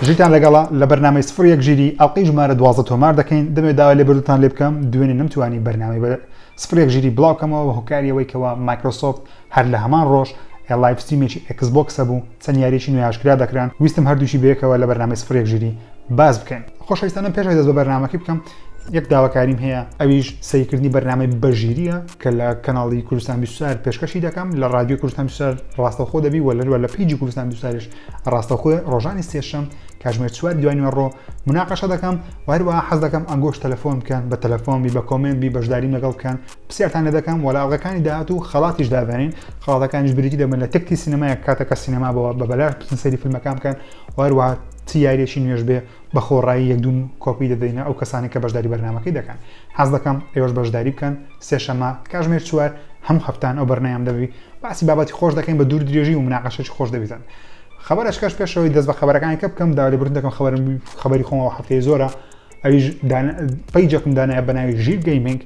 ژیرتان لەگەڵا لە بەرنامەی سفر یەک ژیری ئەڵلقەی ژمارە دوازە تۆمار دەکەین دەمێ داوا لێ بردوتان لێ بکەم دوێنێ نەمتوانی بەرنامەی بە سفر یەک ژیری بڵاوکەمەوە هۆکاریەوەی کەەوە مایکرۆسۆفت هەر لە هەمان ڕۆژ لایف ستیمێکی ئەکسبکسە بوو چەند یاریەکی نوێ ئاشکرا دەکران ویستم هەردووکی بەیەکەوە لە بەرنامەی سفر یەک ژیری باس بکەین. خۆشەویستانم پێش ئەوەی دەست بە بەرنامەکەی بکەم یەک داواکاریم هەیە، ئەویش سەیرکردنی بەرنامەی بە ژیریە کە لە کەناڵی کوردستان بیست و چوار پێشکەشی دەکەم لە ڕادیۆی کوردستان بیست و چوار ڕاستەوخۆ دەبی و لەروە لە پەیجی کوردستان بیست و چواریش ڕاستەوخۆ ڕۆژانی سێشەم کاتژمێر چواری دوای نوێڕۆ مناقەشە دەکەم و هەروەها حەز دەکەم ئەنگۆش تەلەفۆن بکەن بە تەلەفۆن بی بە کۆمێنت بی بەشداریم لەگەڵ بکەن پرسیارتان لێ دەکەم و لە ئەڵقەکانی داهاتوو خەڵاتیش دادەنین خاڵەکانیش بریتی دەبن لە تەکتی سینەمایەک کاتە کە سینەما بەوە بە بەلاش بچن سەری فیلمەکان بکەن و هەروە چ یاریەکی نوێش بێ بە خۆڕایی یەکدون کۆپی دەدەینە ئەو کەسانی کە بەشداری بەرنمەکەی دەکەن حەز دەکەم ئێوەش بەشداری بکەن سێشەمە کاژمێر چوار هەموو هەفتان ئەو بەرنیان دەبی باسی بابەتی خۆش دەکەین بە دوور درێژی و مناقەشێکی خۆش دەبیتن خبرەشکەش پێشەوەی دەست بە خبرەکانی کە بکەم داوای بردن دەکەم خبر خبری خۆمەوە هەفتەیە زۆرە ئەویش دانە پەیجەکم دانایە بە ناوی ژیر گەیمنگ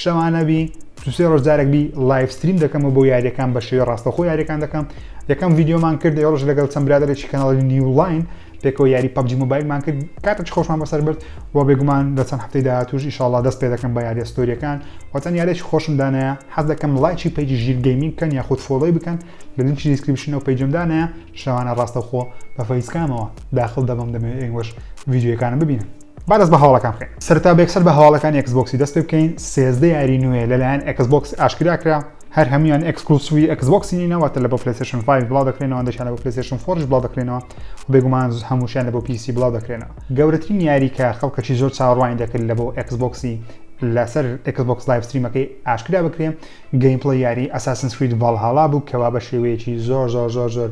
شەوانەبی دوسێ ڕۆژ جارێک بی لایف ستریم دەکەمەوە بۆ یاریەکان بە شێوی ڕاستەخۆ یاریەکان دەکەم یەکەم یددیومان کرد ێڕژ لەگەڵ چەند برادێکی کەناڵی نیولاین پێکەوە یاری پبجی موبایلمان کرد کاتەچ خۆشمان بەسەر برد و بێگومان لە چەند هەفتەی داهاتوش ئیشاڵا دەست پێ دەکەم بە یاریە ستۆریەکان وەتەن یارێکی خۆشم دانایە حەز دەکەم لایکی پێکی ژیر گەیمین کەن یاخود فۆڵی بکەن لە لینکی دیسکرپشنەوە پەیجمدانە شەوانە ڕاستەخۆ بە فەیسکامەوە داخل دەبم دەمەوێت ئێوەش ڤیدیۆکانم ببینن با دەست بە هەواڵەکان بکەین سەرتا بێکسەر بە هەواڵەکانی ئەکسبۆکسی دەست پێ بکەین سێزدە یاری نوێ لەلایەن ئەکسبۆکس ئاشکرا کرا هەر هەمویان ئەکسکلوسیوی ئەکسبۆکسی نینەوەتە لە بۆ پلەسشن 5 بڵاو دەکرێنەوە دەشانە بۆ پلەسشن فۆرش بڵاو دەکرێنەوە و بێگومان هەمووشیان لە بۆ پیسی بڵاو دەکرێنەوە گەورەترین یاری کە خەڵکەکی زۆر چاوەڕوانی دەکرد لە بۆ ئەکسبۆکسی لەسەر ئەکسبۆکس لایف ستریمەکەی ئاشکرا بکرێن گەیمپڵی یاری ئەساسنسکرید ڤالهاڵا بوو کەوا بە شێوەیەکی زۆر زۆر زۆر زۆر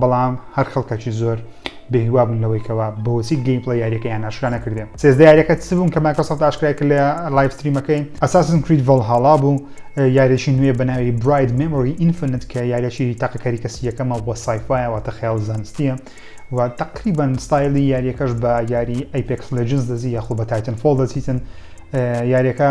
بەڵام هەر خەڵکەکی زۆر بێهیوا بوون لەوەی کەوا بۆچی گەیمپڵەی یاریەکەیان ئاشکرا نەکردێ سێزدە یاریەکە چ بوون کە مایکرۆسۆفت ئاشکرای کرد لە لایڤ ستریمەکەی ئەساسن کرید ڤەڵهاڵا بوو یاریەکی نوێ بە ناوی براید مێمۆری ئینفنت کە یاریەکی تاقە کەری کەسی یەکەمە بۆ سایفایە واتە خەیاڵ زانستیە و تقریبان ستایلی یاریەکەش بە یاری ئەیپێکس لەجنس دەزی یاخۆ بە تایتن فۆڵ دەچیتن یاریەکە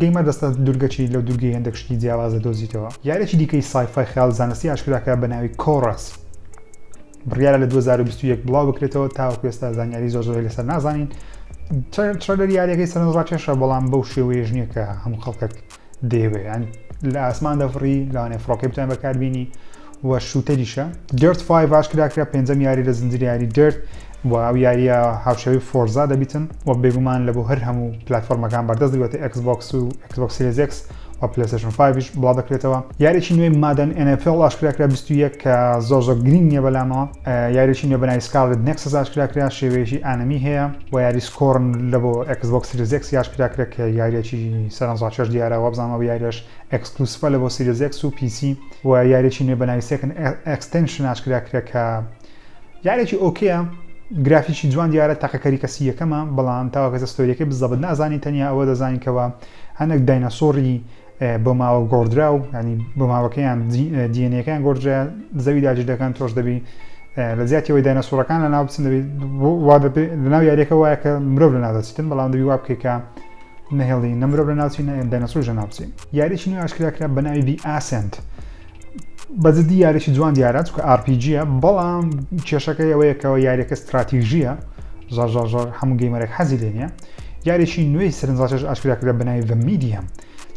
دەی مەبەستە دوورگەچی لەو دوورگەی هێندەک شتی جیاواز دەدۆزیتەوە؟ یاریێکی دیکەی سایفای خەیاڵ زانستی ئاشکراکە بە ناوی کۆڕەس بڕیارە لە 2021 بڵاو بکرێتەوە تاوەکو ئێستا زانیاری زۆر زۆری لەسەر نازانین ترەلەر یاریەکەی سەرنج ڕاکێشە بەڵام بەو شێوەیەش نییە کە هەموو خەڵکەک دەیەوێت لە ئاسمان دەفڕی لەوانێ فڕۆکەی بتوان بەکاربیینی و شووتەریشە. Dirt Five ئاشکرا کرا پێنجەم یاری لە زنجیرە یاری Dirt و ئەو یارییە هاوشێوەی Forza دەبیتن و بێگومان لە بۆ هەر هەموو پلاتفۆرمەکان بەردەست دەبێتە Xbox و Xbox Series X و PlayStation Five یش بڵاو دەکرێتەوە. یاریی نوێی Madden NFL ئاشکرا کرا بیست و یەک کە زۆر زۆر گرینگ نییە بەلامەوە. یاریی نوێ بە ناوی Scarlet Nexus ئاشکرا کرا شێوەیەکی ئانەمی هەیە و یاری Scorn لە بۆ Xbox Series X ی ئاشکرا کرا کە یارییەکی سەرەنجڕاکێش دیارە وابزانم ئەو یارییەش ئێکسکلوسڤە لە بۆ سیریس ئێکس و پی سی و یاریەکی نوێ بەناوی سێکن ئێکستێنشن ئاشکرا کرا کە یاریەکی ئۆکەیە گرافیکی جوان دیارە تاقەکەری کەسی یەکەمە بەڵام تاواکەسە ستۆریەکەی بزەبت نازانی تەنیا ئەوە دەزانین کەەوە هەندێک داینەسۆری بۆ ماوە گۆڕدرا و ینی بۆ ماوەکەیان دیێنەکەیان گۆڕدرا زەوی داجی دەکەن تۆش دەبی لە زیاتیەوەی داینەسۆرەکان لە ناو بچن دەبی لەناو یاریەکە وایە کە مرۆڤ لە نادەچیتن بەڵام دەبی وا بکەیت کە نە هێڵی نە مرۆڤ لە ناوچی نە داینەسۆر ژە ناوچی یاریی نوێ ئاشکرا کرا بە ناوی دی ئاسنت بەجددی یاریی جوان دیارە چکە ئارپیجیە بەڵام کێشەکەی ئەوەیەکەوە یاریەکە استراتیژیە زار زار زار هەموو گەیمەرێک حەزی لێ نیە یاریی نوێی سرنجڕاکێش ئاشکرا کرا بە ناوی میدیە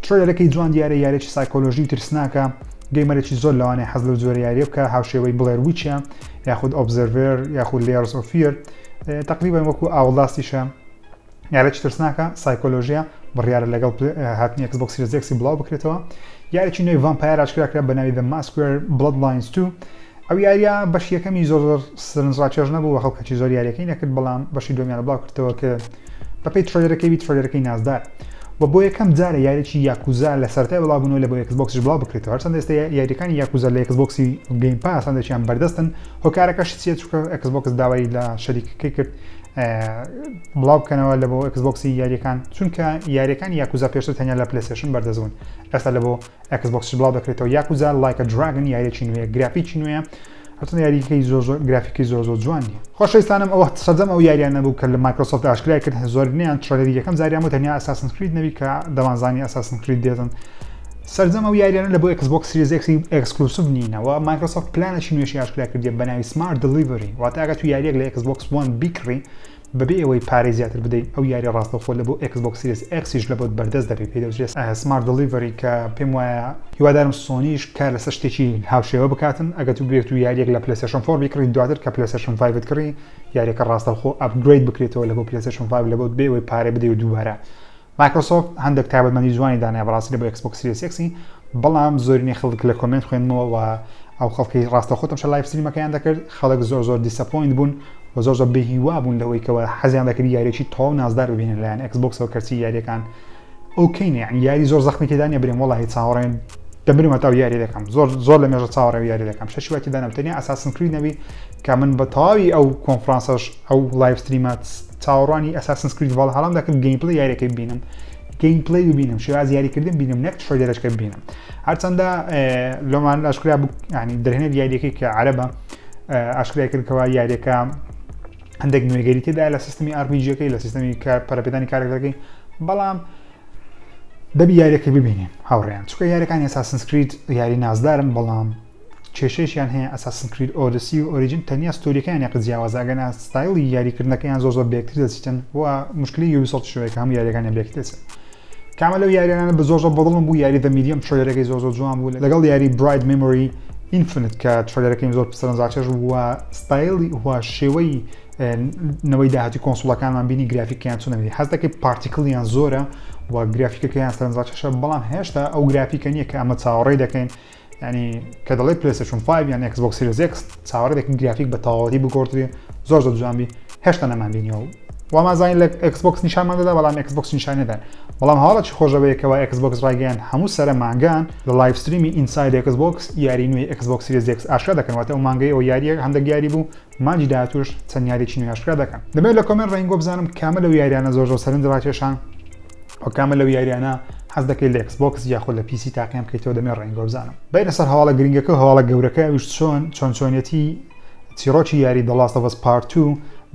ترۆلەکەی جوان دیارە یاریی سایکۆلۆژی و ترسناکە گەیمەرێکی زۆر لەوانەیە حەز لە زۆر یاریە بکە هاوشێوەی بڵێر وچە یاخود ئۆبزەرڤێر یاخود لێرس ئۆفیر تقریبا وەکو ئاوڵاستیشە یارێکی ترسناکە سایکۆلۆژیە بڕیارە لەگەڵ هاتنی ئەکسبۆک سیریز ئێکسی بڵاو بکرێتەوە یارێکی نوێی ڤامپایەر ئاشکرا کرا بە ناوی دە ماسکوێر بڵەد لاینز تو ئەو یاریە بەش یەکەمی زۆر زۆر سرنج ڕاکێش نەبوو خەڵکەکی زۆر یاریەکەی نەکرد بەڵام بەشی دومیان بڵاو کردەوە کە بەپی ترۆلەکەی بی ترۆلەکەی نازدار و بۆ یەکەم جارە یاریی یاکوزا لە سەرای بڵاوبوونەوە لە بۆ یەکسبکسش بڵاو بکرێتەوە هەرچەند ئێستا یاریەکانی یاکوزا لە یەکسبکسی گەیم پاسەندێکیان بەردەستن هۆکارەکەش چیە چکە ئەکسبکس داوای لە شەریکەکەی کرد بڵاو بکەنەوە لە بۆ ئەکسبۆکسی یاریەکان چونکە یاریەکان یاکوزا پێشتر تەنیا لە پلسێشن بەردەست بوون ئێستا لە بۆ ئەکسبۆکس بڵاو دەکرێتەوە یاکوزا لایکە دراگن یاریەکی نوێ گرافیکی نوێە هەرچەند یاریەکەی زۆر زۆر گرافیکی زۆر زۆر جوان نیە خۆشەویستانم ئەوە سەرجەم ئەو یاریان نەبوو کە لە مایکرۆسۆفت ئاشکرای کرد زۆربنیان تڕەلەری یەکەم جاریان بۆ تەنیا ئەساسن کرید نەبی کە دەمانزانی ئەساسن کرید دێتن سەرجەم ئەو یاریانە لە بۆ ئێکس بۆکس سیریس ئێکسی ئێکسکلوسڤ نینەوە، مایکرۆسۆفت پلانێکی نوێشی ئاشکرا کردیە بە ناوی سمارت دلیڤری، واتە ئەگەر تو یاریەک لە ئێکس بۆکس وەن بیکڕی بەبێ ئەوەی پارەی زیاتر بدەی ئەو یاریە ڕاستەوخۆ لە بۆ ئێکس بۆکس سیریس ئێکسیش لە بۆت بەردەست دەبێت پێی دەوترێت سمارت دلیڤری کە پێم وایە هیوادارم سۆنیش کار لەسەر شتێکی هاوشێوە بکاتن ئەگەر تو بێت و یاریەک لە پلەیستەشن فۆر بیکڕی دواتر کە پلەیستەشن فایڤت کڕی یاریەکە ڕاستەوخۆ ئەپگرەید بکرێتەوە لە بۆ پلەیستەشن فایڤ لە بۆت بێ ئەوەی پارەی بدەی و دووبارە مایکرۆسۆفت هەندێک تایبەتمەندی جوانی دانای بەڕاستی لە بۆ ئێکسبۆکس سیریس ئێکسی بەڵام زۆرینەی خەڵک لە کۆمێنت خوێندمەوە و ئەو خەڵکی ڕاستەخۆتم شە لایف ستریمەکەیان دەکرد خەڵک زۆر زۆر دیسەپۆینت بوون و زۆر زۆر بێهیوا بوون لەوەی کەەوە حەزیان دەکرد یاریێکی تەواو نازدار ببینن لایەن ئەکسبکسەوە کەچی یاریەکان ئەو کەینێ یاری زۆر زەخمی تێدانە برێن وڵی چاوەڕێن دەبرم هەتا یاری دەکەم زۆر زۆر لە مێژە چاوەڕێ یاری دەکەم شەشی واتی دانم تەنیا ئەساسن کری نەبی کە من بە تەواوی ئەو کۆنفرانسەش ئەو لایڤ ستریمە چاوەڕوانی ئەساسنس کرید ڤاڵهالام دەکرد گەیم پلەی یاریەکەی ببینم گەیم پلەی ببینم شێواز یاریکردن بینم نەک ترۆیدەرەکە ببینم هەرچەندە لۆمان ئاشکرا ینی دەرهێنێت یاریەکەی کە عەربە ئاشکرای کردکەوە یاریەکە هەندێک نوێگەری تێدا لە سیستمی ئارپیجیەکەی لە سیستمی کار پەرپێدانی کارەکەەکەی بەڵام دەبی یاریەکە ببینین هاوڕێیان چکە یاریەکانی ئەساسنسکریت یاری نازدارن بەڵام کێشەیەکیان هەیە ئەساسن کرید ئۆدسی و ئۆریجن تەنیا ستۆریەکەیان یەقە جیاوازە ئەگەنا ستایڵی یاری کردنەکەیان زۆر زۆر بەیەکتر دەچیتن و موشکلی یوبیسۆفت شەوەیە کە هەموو یاریەکانیان بەیەکتر دەچن کامە لەو یاریانە بە زۆر زۆر بەدڵم بوو یاری دە میدیەم ترۆیەرەکەی زۆر زۆر جوان بوو لەگەڵ یاری برایت مێمۆری ئینفنت کە ترۆیەرەکەیم زۆر پسەرەنجاچێش بوو و ستایلی و شێوەی نەوەی داهاتی کۆنسڵەکانمان بینی گرافیکیان چۆنە بینی حەز دەکەی پارتیکلیان زۆرە و گرافیکەکەیان سەرنجڕاکێشە بەڵام هێشتا ئەو گرافیکە نییە کە ئەمە چاوەڕێ دەکەین یانی کە دەڵێ پلەیستەشون 5 یان ئەکس بۆکس سیریز ئێکس چاوەڕێ دەکەین گرافیک بە تەواوەتی بگۆڕدرێ زۆر زۆر جوان بی هێشتا نەمان بینیەوە و وامازانی لە ئەکس بۆکس نیشانمان دەدا بەڵام ئەکس بۆکس نیشان نەدان بەڵام هەواڵەکی خۆشەوەیەکەوە ئەکس بۆکس ڕایگەیان هەموو سەرە مانگان لە لایڤ ستریمی ئینساید ئەکس بۆکس یاری نوێی ئەکس بۆکس سیریز ئێکس ئاشکرا دەکەن واتە ئەو مانگەی ئەو یارییە هەندێک یاری بوو مانگی داهاتووش چەند یاریەکی نوێی ئاشکرا دەکەن دەمەوێت لە کۆمێنت ڕێین گۆ بزانم کامە لەو یاریانە زۆر زۆر سەرنج ڕاکێشان وە کامە لەو یاریانە حەز دەکەیت لە ئێکس بۆکس یاخود لە پیسی تاقیان بکەیتەوە دەمەوێت ڕێین گۆ بزانم بێینە سەر هەواڵە گرنگەکە و هەواڵە گەورەکە ئەویش چۆن چۆن چۆنیەتی چیڕۆکی یاری دە ڵاست ئۆف ئەس پارت تو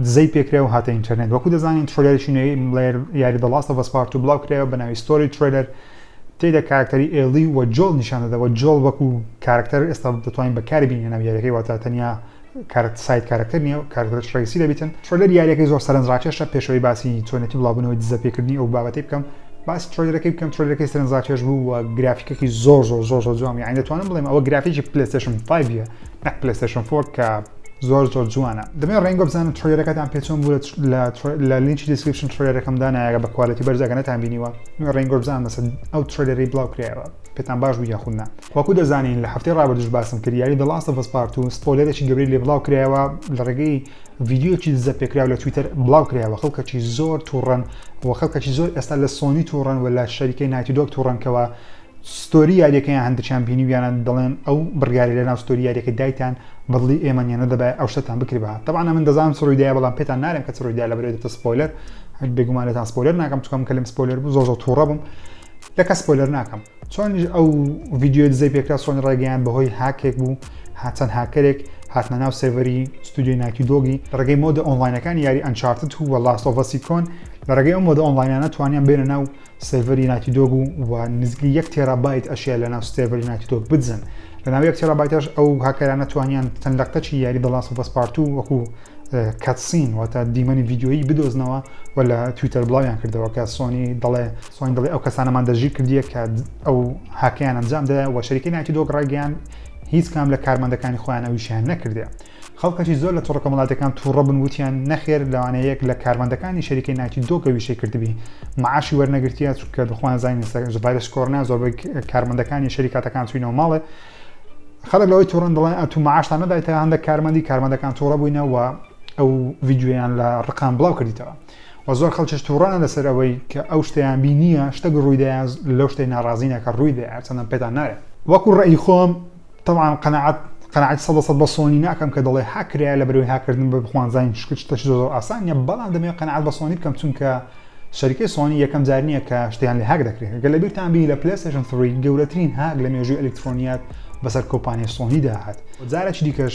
دزەی پێکرا و هاتە ئینتەرنێت وەکو دەزانین تڕۆلێرێکی نوێی مڵێر یاری دە ڵاست ئۆف ئەس پارت تو بڵاو کرایەوە بە ناوی ستۆری ترێلەر تێدا کارەکتەری ئێڵی و جۆڵ نیشان دەدەوە جۆڵ وەکو کارەکتەر ئێستا دەتوانین بەکاری بینینە ناو یاریەکەی واتە تەنیا کارت ساید کارەکتەر نییە و کارەکتەرش ڕەئیسی دەبیتن. ترۆلەر یاریەکەی زۆر سەرەنجڕاکێشە، پێش ئەوەی باسی چۆنێتی بڵاوبوونەوەی دزە پێکردنی ئەو بابەتەی بکەم، باسی ترۆلەرەکەی بکەم، ترۆلەرەکەی سەرەنجڕاکێش بوو و گرافیکەکی زۆر زۆر زۆر زۆر جوان بوو، یانی دەتوانم بڵێم ئەوە گرافیکی پلەیستەیشن فایڤ یە نەک پلەیستەیشن فۆر کە زۆر زۆر جوانە. دەمەوێت ڕێنگۆ بزانم ترۆلەرەکەتان پێ چۆن بوو لە لە لینکی دیسکریپشن ترۆلەرەکەم دانایە بە کوالێتی بەرز ئەگەر نەتان بینیوە دەمەوێت ڕێنگۆ بزانم لەسەر ئەو ترۆلەرەی بڵاو کرایەوە. پێتان باش بوو یاخود نا؟ وەکو دەزانین لە هەفتەی ڕابردووش باسم کرد یاری The Last of Us Part ii سپۆیلەرێکی گەورەی لێ بڵاو کرایەوە لە ڕێگەی ڤیدیۆیەکی دزە پێکراو لە تویتەر بڵاو کرایەوە خەڵکەکی زۆر توڕەن و خەڵکەکی زۆر ئێستا لە سۆنی توڕەن و لە شەریکەی نایتی دۆگ توڕەن کەوا ستۆری یاریەکەیان هەندێکیان بینیویانە دەڵێن ئەو بڕیارە لەناو ستۆری یاریەکە دایتان بەدڵی ئێمە نیە نەدەبای ئەو شتتان بکردبا طبعا من دەزانم چ ڕوویدایە بەڵام پێتان نارێم کە چ ڕوویدا لە بەرێدەتە سپۆیلەر بێگومانێتان سپۆیلەر ناکەم چکەم کەلم سپۆیلەر بوو زۆر زۆر توڕە بووم لەکە سپۆیلەر ناکەم چۆنیش ئەو ڤیددیوی دزەی پێکرا چۆن ڕێگەیان بەهۆی هاکێک بوو هاچەند هاکەرێک هاتنە ناو سێڤەری ستودیۆی ناکی دۆگی لەڕێگەی مۆدە ئۆنلاینەکانی یاری ئەنچارتت و وە لاستۆڤەسی کۆن لەڕێگەی ئەو مۆدە ئۆنلاینانە توانیان بێنە ناو سێڤەری ناکی دۆگ و و نزیکەی یەک تێرا بایت ئەشیا لە ناو سێڤەری ناکی دۆگ بدزن لە ناو یەک تێرا بایتەش ئەو هاکەرانە توانیان تەن لەقتەچی یاری دە لاستۆڤەس پارت و وەکو کەتسین واتە دیمەنی ڤیددیۆیی بدۆزنەوە و لە تویتەر بڵاویان کردەوە کە سۆنی دەڵێ سۆنگ دەڵێ، ئەو کەسانەمان دەستگیر کردیە کە ئەو هاکەیان ئەنجام دایە و شەریکەی نایتی دۆگ ڕایگەیاند، هیچ کام لە کارمەندەکانی خۆیان ئەو ئیشەیان نەکردیە. خەڵکەکی زۆر لە تۆڕە کۆمەڵاتیەکان توڕە بوون وتیان، نەخێر لەوانەیە یەک لە کارمەندەکانی شەریکەی نایتی دۆگ ئەو ئیشەی کردبی مەعاشی وەرنەگرتیە چونکە دەخوایان زانین ئێستا ڤایرۆسی کۆرۆنایە زۆربەی کارمەندەکانی شەریکاتەکان چوینەوە ماڵێ خەڵک لەوەی توڕەن دەڵێن ئەتوو مەعاشتان نەدایتەوە هەندێک کارمەندی کارمەندەکان توڕە بووینە و ئەو ڤیدیۆیان لە ڕقان بڵاو کردیتەوە. و زۆر خەڵکیش تووڕەن لەسەر ئەوەی کە ئەو شتەیان بینییە شتەک ڕوویدا یان لەو شتەی ناڕازینە کە ڕوویدا هەرچەندەم پێتان نایە وەکو ڕێی خۆم تەبعان قەناعەت قەناعەتی سەد لە سەد بە سۆنی ناکەم کە دەڵێ هاک کرایە لەبەرەوەی هاککردن بە بخوانزانین چونکە شتێکی زۆر زۆر ئاسان نییە بەڵام دەمەوێت قەناعەت بە سۆنی بکەم چونکە شەریکەی سۆنی یەکەم جار نییە کە شتیان لە هاک دەکرێت گەر لە بیرتان بی لە پلەیستێشن 3 گەورەترین هاک لە مێژووی ئەلیکترۆنیات بەسەر کۆمپانیای سۆنیدا هات جارێکی دیکەش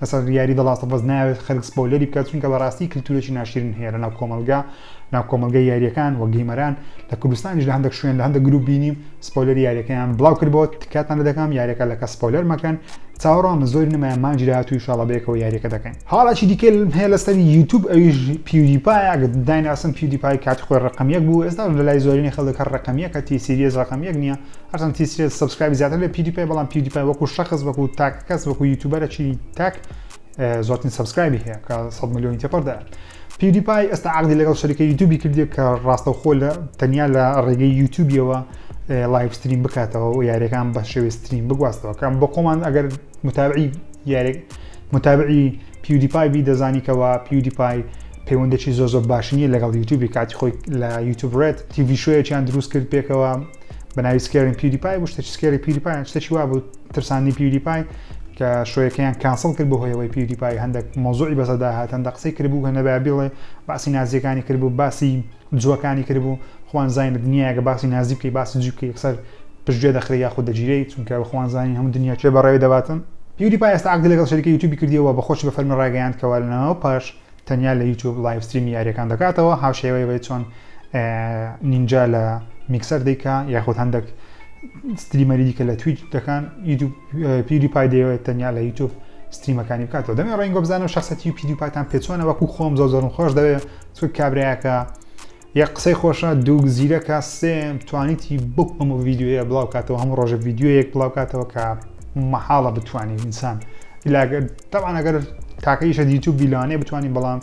لەسەر یاری دە ڵاست ئۆف ئەس نایەوێت خەلک سپۆیلەری بکات چونکە بەراستی کلتورێکی ناشرین هەیە لەناو کۆمەلگا ناو کۆمەلگای یاریەکان وە گەیمەران لە کوردستانیش لە هەندەک شوێن لە هەندەک گروپ بینیم سپۆیلەری یاریەکەیان بلاو کردبۆ تکاتان لە دەکەم یاریەکە لە کەس سپۆیلەر مەکەن چاوەڕوانمە زۆری نەمایە مانگی داهاتوو ئیشاڵا بەیەکەوە یاریەکە دەکەین هەاڵێکی دیکە هەیە لەسەر یوتوب ئەویش پیودی پایە ئەگەر دایناسن پیودی پای کاتی خۆی ڕەقەم یەک بوو ئێستاش لەلای زۆرینەی خەلک هەر ڕەقەم یەکە تی سیریەس ڕەقەم یەک نیە هەرچەند تیسرێت سەبسکرایبی زیاتر لە پیودیپای بەڵام پیودیپای وەکو شەخص وەکو تاک کەس وەکو یوتیوبەرەکی تاک زۆرترین سەبسکرایبی هەیە کە 100 ملیۆنی تێپەردا پیودیپای ئێستا عقدی لەگەڵ شەریکە یوتیوبی کردێک کە ڕاستەوخۆ لە تەنیا لە ڕێگەی یوتیوبیەوە لایف ستریم بکاتەوە و یاریەکان بە شێوی ستریم بگواستەوە کەم بۆ خۆمان ئەگەر متابعی یارێک متابعی پیودیپای بی دەزانیکەوە پیودیپای پەیوەندێکی زۆ زۆر باشنیە لەگەڵ یوتیوبی کاتی خۆی لە یوتوب ڕێت تیوی شوەیەکیان دروست کرد پێکەوە بە ناوی سکێرین پیوریپای بوو شتێکی سکێری پیوریپای شتێکی وا بوو ترساندی پیوریپای کە شوەکەیان کانسڵ کرد بۆ هۆیەوەی پیوریپای هەندێک مۆزوعی بەسەدا هات هەندە قسەی کردبوو کە نەبا بڵێ باسی نازیەکانی کردبوو باسی جوەکانی کردبوو خوان زانین لە دنیاگە باسی نازی بکەی باسی جوی بکەی یەکسەر پشتگوێ دەخرێ یاخود دەگیرەی چونکە بەخوان زانین هەموو دنیا چێ بەڕێوی دەباتن پیوریپای ئێستا عەقدی لەگەڵ شەریکە یوتیوبی کردیەوە بە خۆشی بە فەرمی ڕایگەیاند کەوا لەناو پاش تەنیا لە یوتوب لایڤ ستریمی یاریەکان دەکاتەوە هاوشێوەی وی چۆن نینجا لە میکسەر دیکە یاخود هەندێک ستریمەری دیکە لە تویچ دەکان یوتوب پیری پای دەیەوێت تەنیا لە یوتوب ستریمەکانی بکاتەوە دەمێ ڕێنگۆ بزانم شخصەتی و پیری پاتان پێچۆنە وەکو خۆم زۆر زۆرم خۆش دەوێت چ کابراەکە یەک قسەی خۆشە دوو زیرەکە سێ توانیتی بەو هەموو ڤیددیوە بڵاو کاتەوە هەموو ڕۆژە ڤیددیوەیەک بڵاو کاتەوە کە مەحاڵە بتانی ئینسان لاگەر تاوان ئەگەر تاکەیشە یوتوب بیلانێ بتانی بەڵام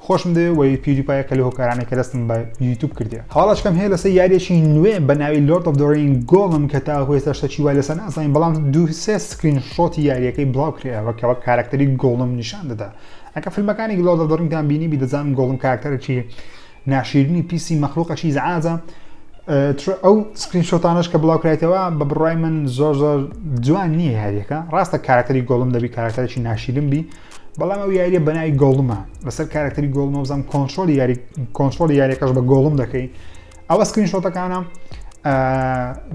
خۆشم دەوێ وی پیوریپایە کە لە هۆکارانە کە دەستم بە یوتوب کردێ هەواڵشکم هەیە لەسەر یاریەکی نوێ بە ناوی لۆرد of دۆرین گۆڵم کە تا هۆێستا شتەکی وای لەسەر نازانین بەڵام دو سێ سکرین شۆتی یاریەکەی بڵاو کرێەوە کەەوە کارکتەری گۆڵم نیشان دەدا ئەکە فیلمەکانی گلۆ دەدەڕینتان بینی بیدەزانم گۆڵم کاراکتەرێکی ناشیرنی پیسی مەخلوقە چی زعاجە ئەو سکرین شۆتانش کە بڵاو کرایتەوە بە بڕای من زۆر زۆر جوان نییە یاریەکە ڕاستە کارەکتەری گۆڵم دەبی کارەکتەرێکی ناشیرن بی بەڵام ئەو یاریە بەناوی گۆڵمە لەسەر کارەکتەری گۆڵمە بزانام کۆنتۆل یاری کۆنتۆل یاریەکەش بە گۆڵم دەکەی ئەوە سکرین شۆتەکانە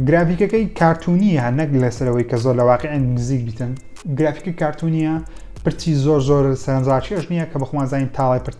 گرافیکەکەی کارتونیە نەک لەسەرەوەی کە زۆر لە واقعی نزیک بیتن گرافیکی کارتونیە پرچی زۆر زۆر سەرنجڕاکێش نییە کە بەخوازانین تاڵای پرت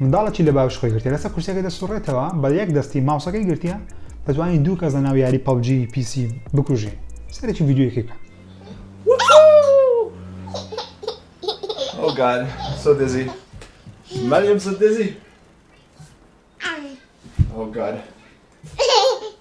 منداڵێکی لە باوەش خۆی گرتیە لەسەر کورسیەکە دەسوڕێتەوە بە یەک دەستی ماوسەکەی گرتیە دەتوانی دوو کەس لەناو یاری پەبجی پیسی بکوژی سەرەکی ڤیدیۆیەکی بکە.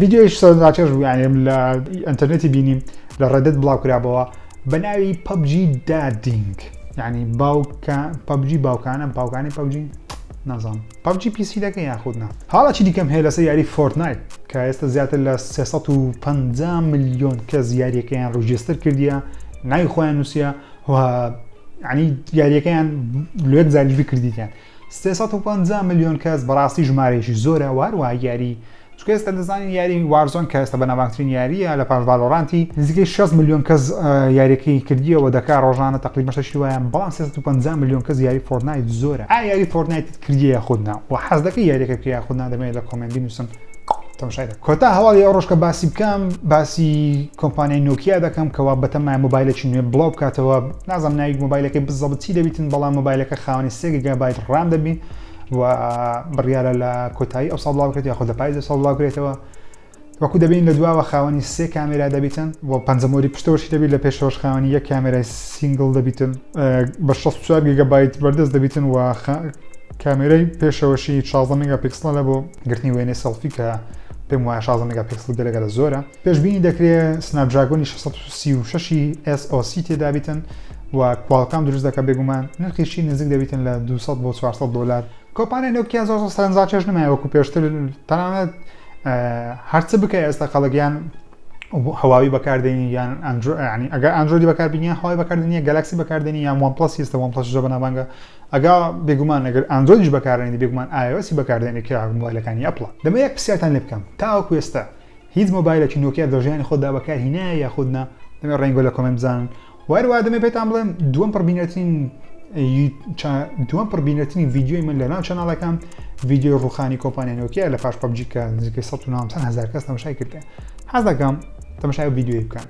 ڤیدیۆیش سەر ناچێژ بوو یانێم لە ئەتەرنێتی بینیم لە ڕێدت بڵاوکرابەوە بە ناوی پەبجی دادینگ ینی باوکە پەبجی باوکانە باوکانی پەبجی نازان پەبجی پیسی دەکە یاخودنا حاڵەکی دیکەم هەیە لەسەر یاری فۆرتنایت کە ئێستا زیاتر لە 350 میلیۆن کە زیاریەکەیان ڕژێستر کردیە ناوی خۆیان نووسە هو عنی یاریەکەیان لێک زانیش بکردیان سێ سەد و پەنجا ملیۆن کەس بەڕاستی ژمارەیەکی زۆرە و هەروەها یاری چونکە ئێستا دەزانین یاری وارزۆن کە ئێستا بەناوبانگترین یارییە لە پاش ڤالۆرانتی نزیکەی شەست ملیۆن کەس یاریەکەی کردیەوە دەکا ڕۆژانە تەقریبەن شەشی وایە بەڵام سێ سەد و پەنجا ملیۆن کەس یاری فۆرتنایت زۆرە ئایا یاری فۆرتنایتت کردیە یاخود نا و حەز دەکەی یاریەکە بکەی یاخود نا دەمەوێت لە کۆمێنت بینووسن تەماشاکە کۆتا هەواڵی ئەو ڕۆژکە باسی بکەم باسی کۆمپانیای نۆکییا دەکەم کەوا بەتەمای مۆبایلێکی نوێ بڵاو بکاتەوە نازم ناوی مۆبایلەکەی بزەبتی دەبیتن بەڵام مۆبایلەکە خاوەنی سێگەگە بای ڕام دەبین و بڕیاە لە کۆتایی ئەو ساڵ بڵاوکرێت یاخۆ لە پایز ساڵ بڵاوکرێتەوە وەکو دەبین لە دواوە خاوەنی سێ کامێرا دەبیتن و پەنجەمۆری پشتەوەشی دەبیت لە پێشەوەش خاوەنی یەک کامێرای سینگل دەبیتن بە 64 گەبایت بەردەست دەبیتن و کامێرای پێشەوەشی شازدە مێگا پیکسڵە بۆ گرتنی وێنەی سێڵفی کە پێم وایە شازدە مێگا پیکسڵ گەلە گەلە زۆرە پێشبینی دەکرێت سناپدراگۆنی شەش سەد و سی و شەش ی SOC تێدابیتن و کوالکام دروست دەکە بێگومان نرخیشی نزیک دەبیتن لە دوو سەد بۆ چوار سەد دۆلار کۆمپانیای نۆکیا زۆر زۆر سەرنجڕاکێش نمایە وەکو پێشتر تەنانەت هەرچ بکە ئێستا خەڵک یان هەواوی بەکاردێنی یان ئەندرو ینی ئەگەر ئەندرۆیدی بەکاربینیان هەوای بەکاردنیە گەلاکسی بەکاردێنی یان وان پڵەس ئێستا وان پڵەس زۆر بەناوبانگە ئەگا بێگومان ئەگەر ئاندرۆیدیش بەکارئەنێی بێگومان ئای ئۆ ئێسی بەکاردێنێ کە مۆبایلەکانی ئەپڵە. دەمەوێ یەک پرسیارتان لێ بکەم تاوەکو ئێستا هیچ مۆبایلەکی نۆکیا لە ژیانی خۆتدا بەکار هینایە یاخود نا؟ دەمەوێ ڕەینگۆ لە کۆمێنت بزانن و هەروەها دەمەوێ پێتان بڵێم دووەم پڕ بینەرترین دووەم پڕ بینەرترین ڤیدیۆی من لە ناو چەناڵەکەم ڤیدیۆی ڕوخانی کۆمپانیا نۆکیا لە پاش پەبجی کە نزیکەی 1970 هەزار کەس تەمەشای کردێ حەز دەکەم تەمەشای ڤیدیۆی بکەن